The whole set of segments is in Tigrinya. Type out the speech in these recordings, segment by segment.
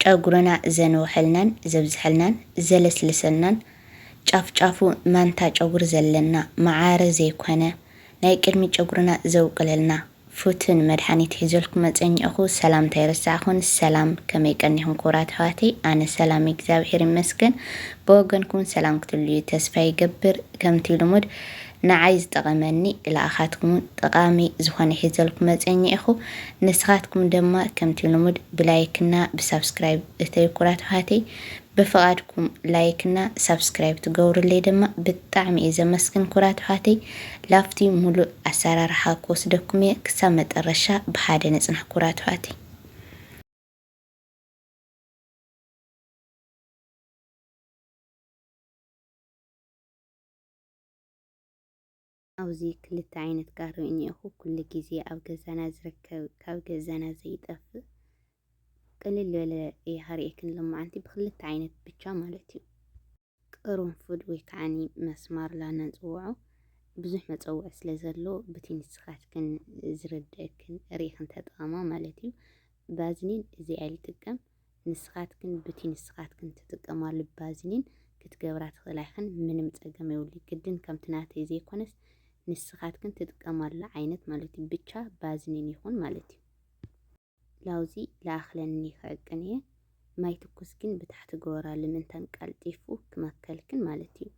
ጨጉርና ዘንውሐልናን ዘብዝሐልናን ዘለስልሰልናን ጫፍ ጫፉ ማንታ ጨጉሪ ዘለና መዓረ ዘይኮነ ናይ ቅድሚ ጨጉርና ዘውቅለልና ፉትን መድሓኒት ሒዘልኩም መጸኘእኹ ሰላምታ ኣይረሳዕኹን ሰላም ከመይ ቀኒኹም ክቡራት ኣሕዋተይ ኣነ ሰላም እግዚኣብሔር ይመስገን ብወገንኩም ሰላም ክትልዩ ተስፋ ይገብር ከምቲ ልሙድ ንዓይ ዝጠቐመኒ ልኣኻትኩሙን ጠቓሚ ዝኾነ ሒዘልኩም መጽየ ኝኢኹ ንስኻትኩም ደማ ከምቲ ልሙድ ብላይክ እና ብሳብስክራይብ እተዩ ኩራት ኣሃተይ ብፍቓድኩም ላይክ እና ሳብስክራይብ ትገብሩለይ ደማ ብጣዕሚ እየ ዘመስግን ኩራት ኣሃተይ ላፍቲ ሙሉእ ኣሰራርሓ ክወስደኩም እየ ክሳብ መጠረሻ ብሓደ ንጽናሕ ኩራት ኣሃተይ ኣብዚ ክልተ ዓይነት ጋሪ እኒኦኹ ኩሉ ግዜ ኣብ ገዛና ዝርከብ ካብ ገዛና ዘይጠፍእ ቅልል ዝበለ ይሃርኤክን ሎማዓንቲ ብክልተ ዓይነት ብቻ ማለት እዩ ቅርንፉድ ወይ ከዓኒ መስማር ላና ንፅውዖ ብዙሕ መፀውዒ ስለ ዘሎ ብቲ ንስኻትክን ዝርድእክን ርኢኽን ተጠቐማ ማለት እዩ ባዝኒን እዚ ኣይልጥቀም ንስኻትክን ብቲ ንስኻትክን ትጥቀማሉ ባዝሊን ክትገብራ ትኽእላ ኢኽን ምንም ጸገም የብሉይ ግድን ከምቲ ናተይ ዘይኮነስ ንስኻትክን ትጥቀማሉ ዓይነት ማለት እዩ ብቻ ባዝሊን ይኹን ማለት እዩ ላውዚ ለኣኽለኒ ክዕቅን እየ ማይ ትኩስ ግን ብታሕቲ ገበራሉ ምንታን ቀልጢፉ ክመከልክን ማለት እዩ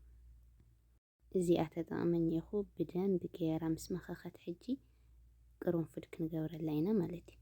እዚኣ ተጠቕመኝ ኢኹ ብደንብ ገይራ ምስ መኸኸት ሕጂ ቅርንፉድ ክንገብረላ ኢና ማለት እዩ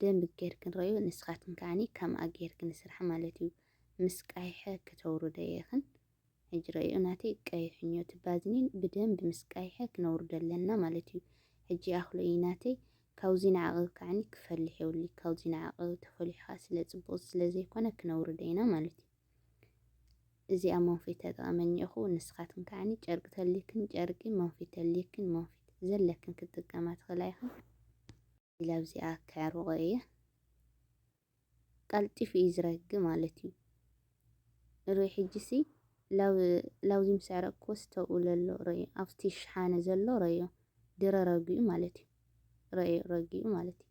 ደንብ ጌርክን ረእዮ ንስካትክን ከኣኒ ከምኣ ጌርክን ስራሕ ማለት እዩ ምስ ቀይሐ ክተውርደዮ ኢክን ሕጂ ረእዮ ናተይ ቀይሕኞ እቲ ባዝኒን ብደንብ ምስ ቀይሐ ክነውርዶ ኣለና ማለት እዩ ሕጂ ኣክሎ እዩ ናተይ ካውዚ ንዓቅ ከኣኒ ክፈልሕ የውሊ ካውዚ ንዓቅ ተፈሊሑ ከኣ ስለ ጽቡቅ ስለ ዘይኮነ ክነውርደ ኢና ማለት እዩ እዚኣ መንፊት ተጠቐመኝ እኹ ንስኻትክን ከዓኒ ጨርቂ ተልይክን ጨርቂ መንፊት ተልይክን መንፊት ዘለክን ክትጥቀማ ትኽእላ ኢኽን ኢለ ኣብዚኣ ከዕርቆ እየ ቀልጢፉ እዩ ዝረግ ማለት እዩ ርኢ ሕጂሲ ላውዚ ምስ ዕረቅክዎ ስተብኡ ለሎ ረዮ ኣብቲ ሽሓነ ዘሎ ረዮ ድረ ረጊኡ ማለት እዩ ረዮ ረጊኡ ማለት እዩ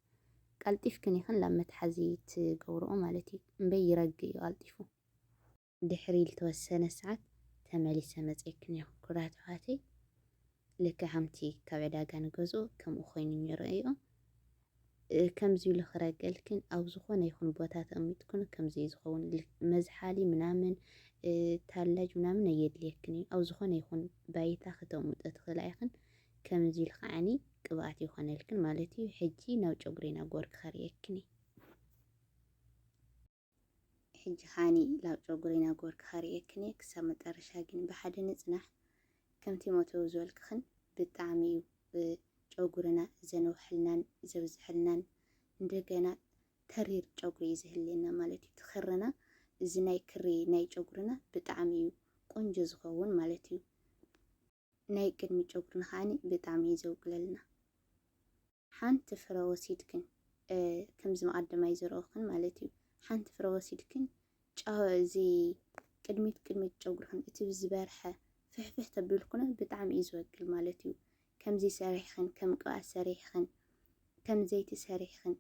ቀልጢፍክን ይኽን ላብ መትሓዚ ትገብርኦ ማለት እዩ እምበይ ይረግ እዩ ቀልጢፉ ድሕሪ ልተወሰነ ሰዓት ተመሊሰ መጼክን እየ ኩቡራት ኣሕዋተይ ልክዕ ከምቲ ካብ ዕዳጋ ንገዝኦ ከምኡ ኮይኑን እየ ረኣይኦ ከምዚ ኢሉ ክረገልክን ኣብ ዝኾነ ይኹን ቦታ ተቀሚጥክን ከምዚ እዩ ዝኸውን መዝሓሊ ምናምን ታላጅ ምናምን ኣየድልየክን እዩ ኣብ ዝኾነ ይኹን ባይታ ክተቅምጦ ትኽእላ ኢኽን ከምዚ ኢሉ ከዓኒ ቅብኣት ይኾነልክን ማለት እዩ ሕጂ ናብ ጨጉሪና ጎርኪ ከርእየክን እዩ ሕጂ ሃኒ ላብ ጨጉሪ ናጎርኪ ከርእየክን እየ ክሳብ መጠረሻ ግን ብሓደ ንጽናሕ ከምቲ ሞተው ዝበልክክን ብጣዕሚ እዩ ጨጉርና ዘንውሐልናን ዘብዝሐልናን እንደገና ተሪር ጨጉሪ እዩ ዝህልየና ማለት እዩ ትክርና እዚ ናይ ክሪ ናይ ጨጉርና ብጣዕሚ እዩ ቆንጆ ዝኸውን ማለት እዩ። ናይ ቅድሚ ጨጉርና ከኣ ብጣዕሚ እዩ ዘውቅለልና ሓንቲ ፍረ ወሲድክን ከምዚ መቀደማይ ዝረኦክን ማለት እዩ ሓንቲ ፍረ ወሲድክን ጫው እዚ ቅድሚት ቅድሚት ጨጉርክን እቲ ዝበርሐ ፍሕፍሕ ተብልኩነ ብጣዕሚ እዩ ዝወቅል ማለት እዩ ከምዚ ሰሪሕክን ከም ቅብኣት ሰሪሕክን ከም ዘይቲ ሰሪሕክን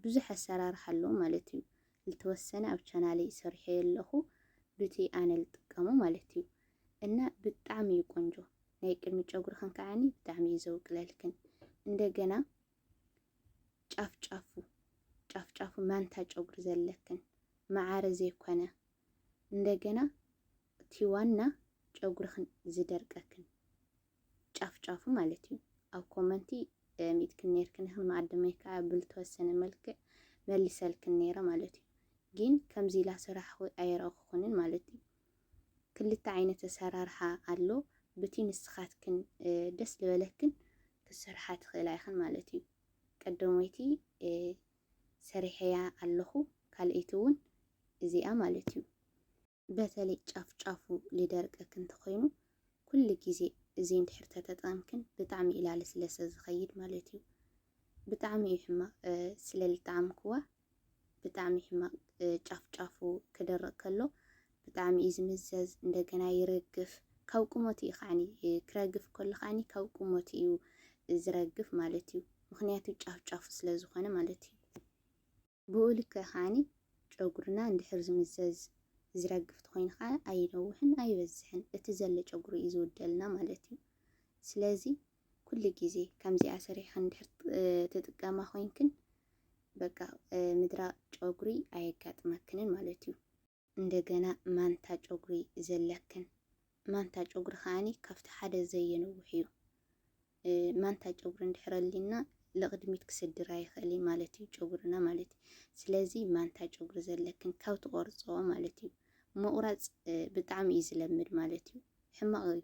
ብዙሕ ኣሰራርሓ ኣለዎ ማለት እዩ ልተወሰነ ኣብ ቻናለይ ሰሪሐዮ ኣለኹ ብቲ ኣነ ልጥቀሞ ማለት እዩ እና ብጣዕሚ እዩ ቆንጆ ናይ ቅድሚ ጨጉርክን ከዓኒ ብጣዕሚ እዩ ዘውቅለልክን እንደገና ጫፍ ጫፉ ጫፍ ጫፉ ማንታ ጨጉሪ ዘለክን መዓረ ዘይኮነ እንደገና እቲ ዋና ጨጉርክን ዝደርቀክን ጫፍ ጫፉ ማለት እዩ ኣብ ኮመንቲ ሚእትክን ነርክን ይኽን መኣደመይ ከዓ ብልተወሰነ መልክዕ መልሰልክን ነይረ ማለት እዩ ግን ከምዚ ኢላ ስራሕ ኣይረእኹኩንን ማለት እዩ ክልተ ዓይነት ኣሰራርሓ ኣሎ ብቲ ንስኻትክን ደስ ልበለክን ክትሰርሓ ትኽእላ ኢኽን ማለት እዩ ቀደሞይቲ ሰሪሐያ ኣለኹ ካልኣይቲ እውን እዚኣ ማለት እዩ በተለይ ጫፍ ጫፉ ልደርቀክን ተኾይኑ ኩሉ ግዜ እዚ እንድሕር ተተጠቀምክን ብጣዕሚ ኢላሊ ስለሰ ዝኸይድ ማለት እዩ ብጣዕሚ እዩ ሕማቅ ስለ ልጠዓምክዋ ብጣዕሚ ሕማቅ ጫፍ ጫፉ ክደርቅ ከሎ ብጣዕሚ እዩ ዝምዘዝ እንደገና ይረግፍ ካብ ቁመቱ እዩ ከዓኒ ክረግፍ ከሎ ከዓኒ ካብ ቁመቱ እዩ ዝረግፍ ማለት እዩ ምክንያቱ ጫፍ ጫፉ ስለ ዝኮነ ማለት እዩ ብኡ ልክዕ ከዓኒ ጨጉርና እንድሕር ዝምዘዝ ዝረግፍ ተኮይኑ ከዓ ኣይነውሕን ኣይበዝሕን እቲ ዘሎ ጨጉሪ እዩ ዝውደልና ማለት እዩ ስለዚ ኩሉ ግዜ ከምዚኣ ሰሪሕክን እንድሕር ትጥቀማ ኮይንክን በቃ ምድራ ጨጉሪ ኣየጋጥመክንን ማለት እዩ። እንደገና ማንታ ጨጉሪ ዘለክን፣ ማንታ ጨጉሪ ከኣኒ ካብቲ ሓደ ዘየንውሕ እዩ። ማንታ ጨጉሪ እንድሕር ኣሊና ልቕድሚት ክሰድር ኣይኽእል እዩ ማለት እዩ ጨጉርና ማለት እዩ። ስለዚ ማንታ ጨጉሪ ዘለክን ካብ ትቆርጽኦ ማለት እዩ ምቑራጽ ብጣዕሚ እዩ ዝለምድ ማለት እዩ ሕማቕ እዩ።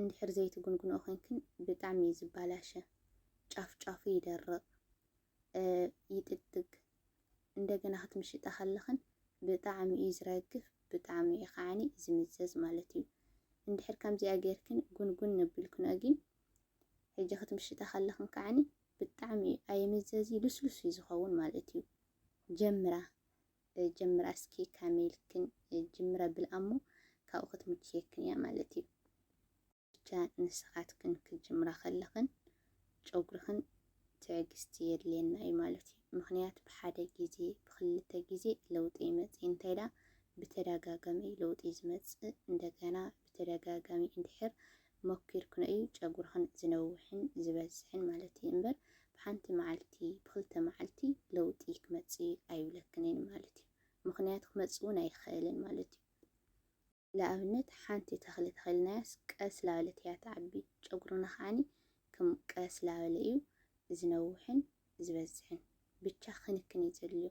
እንድሕር ዘይትጉንጉንኦ ኮይንክን ብጣዕሚ እዩ ዝባላሸ ጫፍ ጫፉ ይደርቅ ይጥግጥግ እንደገና ክትምሽጣ ከለኽን ብጣዕሚ እዩ ዝረግፍ ብጣዕሚ እዩ ከዓኒ ዝምዘዝ ማለት እዩ እንድሕር ከምዚኣ ጌርክን ጉንጉን ነብልክንኦ ግን ሕጂ ክትምሽጣ ከለኽን ከዓኒ ብጣዕሚ እዩ ኣይምዘዝ እዩ ልስሉስ እዩ ዝኸውን ማለት እዩ ጀምራ ጀምራ እስኪ ከመይ ኢልክን ጅምረ ብልኣ እሞ ካብኡ ክትምችየክን እያ ማለት እዩ። ብቻ ንስኻትክን ክትጅምራ ከለኽን ጨጉርኽን ትዕግስቲ የድልየና እዩ ማለት እዩ። ምኽንያት ብሓደ ግዜ ብክልተ ግዜ ለውጢ ኣይመጽእን እንታይ ደኣ ብተደጋጋሚ እዩ ለውጢ ዝመጽእ እንደገና ብተደጋጋሚ እንድሕር ሞኪርክንኦዩ ጨጉርኽን ዝነውሕን ዝበዝሕን ማለትይ እምበር ብሓንቲ መዓልቲ ብክልተ መዓልቲ ለውጢ ክመጽእ እዩ ኣይብለክንይን ማለትዩ ምኽንያቱ ክመጽእውን ኣይኽእልን ማለትዩ ልኣብነት ሓንቲ ተኽሊ ተኺልናያስ ቀስ ላበለት እያ ትዓቢ ጨጉርና ከዓኒ ክም ቀስ ላበለ እዩ ዝነውሕን ዝበዝሕን ብቻ ክንክን እዩ ዘድልዮ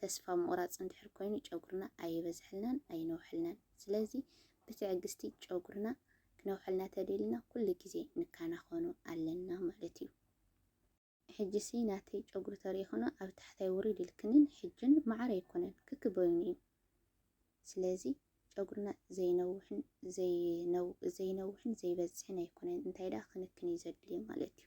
ተስፋ ምቑራጽ እንድሕር ኮይኑ ጨጉርና ኣይበዝሐልናን ኣይነውሐልናን። ስለዚ ብትዕግስቲ ጨጉርና ክነውሐልና ተደሊና ኩሉ ግዜ ንከናኸኖ ኣለና ማለት እዩ። ሕጂሲ ናተይ ጨጉሪ ተሪኢክኖ ኣብ ታሕታይ ውሪድ ኢልክንን ሕጅን መዓር ኣይኮነን ክክ በይኑ እዩ። ስለዚ ጨጉርና ዘይነውሕን ዘይነው ዘይነውሕን ዘይበዝሕን ኣይኮነን እንታይ ደኣ ክንክን እዩ ዘድልዮ ማለት እዩ።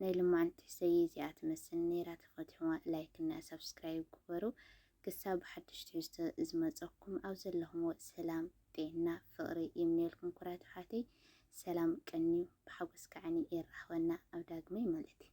ናይ ልማዓንቲ ትሕሰይ እዚኣ ትመስል ነይራ ተፈትሕዋ ላይክ እና ሳብስክራይብ ግበሩ ክሳብ ብሓዱሽ ትሕዝቶ ዝመፀኩም ኣብ ዘለኹምዎ ሰላም ጤና ፍቅሪ ይምነየልኩም ኩራት ኣሕዋተይ ሰላም ቀንዩ ብሓጎስ ከዓኒ የራኽበና ኣብ ዳግመይ ማለት እዩ።